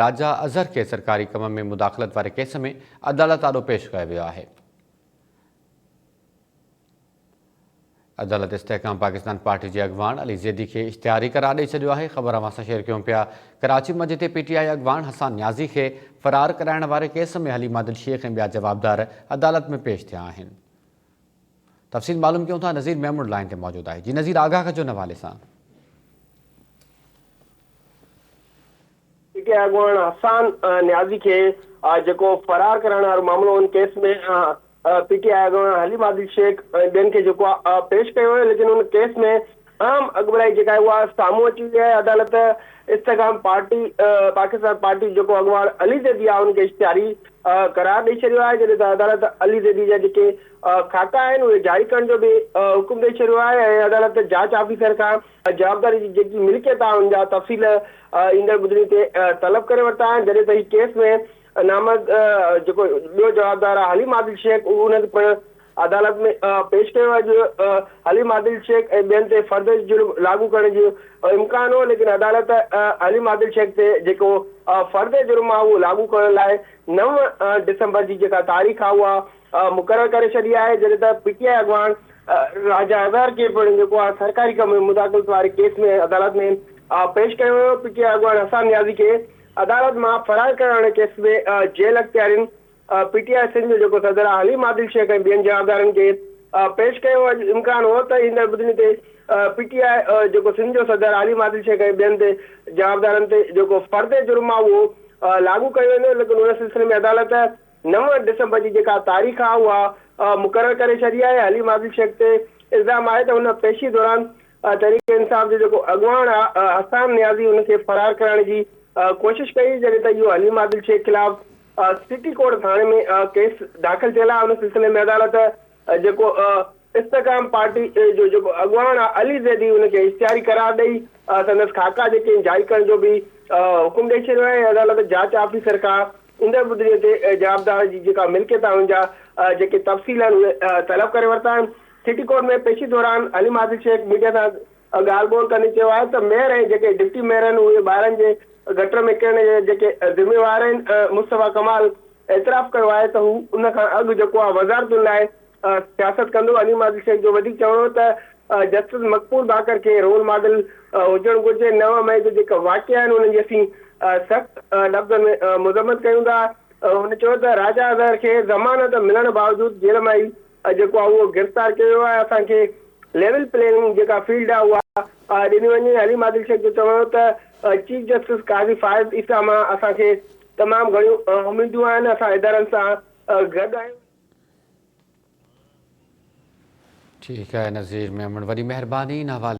راجا اظهر کي سرڪاري ڪم ۾ مداخلت واري ڪيس ۾ عدالت آڏو پيش ڪيو ويو آهي. عدالت استحڪام پاڪستان پارٽي جي اڳواڻ علي زيدي کي اشتهاري قرار ڏئي ڇڏيو آهي خبر اوهان سان شيئر ڪيون پيا ڪراچي مجي تي پي ٽي آء اڳواڻ حسان نيازي کي فرار ڪرائڻ واري ڪيس ۾ حليمه دل شيخ ۽ ٻيا جوابدار عدالت ۾ پيش ٿيا آهن تفصيل معلوم ڪيون ٿا نظير ميمڻ لائين تي موجود آهي جي نظير آگاهه ڪجو ان حوالي سان. پي ٽي آء اڳواڻ حسان نيازي کي جيڪو فرار ڪرائڻ وارو معاملو هو ان ڪيس ۾ پي ٽي آء اڳواڻ حليم عادل شيخ ۽ ٻين کي جيڪو آهي پيش ڪيو ويو ليڪن ان ڪيس ۾ اهم اڳڀرائي جيڪا آهي اها سامهون اچي وئي آهي، عدالت استحڪام پارٽي پاڪستان پارٽي جيڪو اڳواڻ علي زيدي آهي ان کي اشتهاري قرار ڏئي ڇڏيو آهي جڏهن ته عدالت علي زيدي جا جيڪي خاڪا آهن اهي جاري ڪرڻ جو به حڪم ڏئي ڇڏيو آهي ۽ عدالت جاچ آفيسر کان جوابداري جي جيڪي ملڪيت آهي ان جا تفصيل ايندڙ ٻڌڻي تي طلب ڪري ورتا آهن جڏهن ته هي ڪيس ۾ نامزد جيڪو ٻيو جوابدار آهي حليم عادل شيخ ان کي پڻ عدالت ۾ پيش ڪيو ويو جو حليم عادل شيخ ۽ ٻين تي فرد جرم لاڳو ڪرڻ جو امڪان هو ليڪن عدالت حليم عادل شيخ تي جيڪو فرد جرم آهي اهو لاڳو ڪرڻ لاء نو ڊسمبر جي جيڪا تاريخ آهي اها مقرر ڪري ڇڏي آهي جڏهن ته پي ٽي آء اڳواڻ راجا اظهر کي پڻ جيڪو آهي سرڪاري ڪم ۾ مداخلت واري ڪيس ۾ عدالت ۾ پيش ڪيو ويو پي ٽي آء اڳواڻ حسام نيازي کي عدالت مان فرار ڪرڻ واري ڪيس ۾ جيل اختيارين پي ٽي آء سنڌ جو جيڪو صدر آ حليم عادل شيخ ۽ ٻين جوابدارن کي پيش ڪيو اڄ امڪان هو ته ايندڙ ٻڌڻي تي پي ٽي آء جيڪو سنڌ جو صدر عاليم عادل شيخ ۽ ٻين تي جوابدارن تي جيڪو فرد جرم آ اهو لاڳو ڪيو ويندو ليڪن ان سلسلي ۾ عدالت نو ڊسمبر جي جيڪا تاريخ آ اها مقرر ڪري ڇڏي آهي حليم عادل شيخ تي الزام آهي ته هن پيشي دوران تحريڪ انصاف جو جيڪو اڳواڻ آ حسام نيازي ان کي فرار ڪرائڻ جي ڪوشش ڪئي جڏهن ته اهو حليم عادل شيخ خلاف آء سٽي ڪورٽ ٿاڻي ۾ ڪيس داخل ٿيل آهي ان سلسلي ۾ عدالت جيڪو استحڪام پارٽي جو جيڪو اڳواڻ آهي علي زيدي ان کي اشتهاري قرار ڏئي سندس خاڪا جيڪي آهن جاري ڪرڻ جو به حڪم ڏئي ڇڏيو آهي ۽ عدالت جاچ آفيسر کان ايندڙ ٻڌڻي تي جوابدار جي جيڪا ملڪيت آهي ان جا جيڪي تفصيل آهن اهي طلب ڪري ورتا آهن سٽي ڪورٽ ۾ پيشي دوران حليم عادل شيخ ميڊيا سان ڳالهه ٻولهه ڪندي چيو آهي ته ميئر ۽ جيڪي ڊپٽي ميئر آهن اهي ٻارن جي گٽر ۾ ڪرڻ جا جيڪي ذميوار آهن مصطفيٰ ڪمال اعتراف ڪيو آهي ته هو ان کان اڳ جيڪو آهي وزارتن لاء سياست ڪندو عليم عادل شيخ جو وڌيڪ چوڻ هو ته جسٽس مقبول باقر کي رول ماڊل هجڻ گهرجي نو مئي جا جيڪا واقعا آهن انهن جي اسين سخت لفظن ۾ مذمت ڪيون ٿا هن چيو ته راجا اظهر کي ضمانت ملڻ باوجود جيل مان ئي اڄ جيڪو آهي اهو گرفتار ڪيو ويو آهي اسان کي ليول پلينگ جيڪا فيلڊ آهي اها ڏني وڃي حليم عادل شيخ جو چوڻ هو ته چيف جسٽس قاضي فائز عيسيٰ مان اسان کي تمام گهڻيون اميدون آهن اسان ادارن سان گڏ آهيون. ٺيڪ آهي نظير ميمڻ وڏي مهرباني ان حوالي.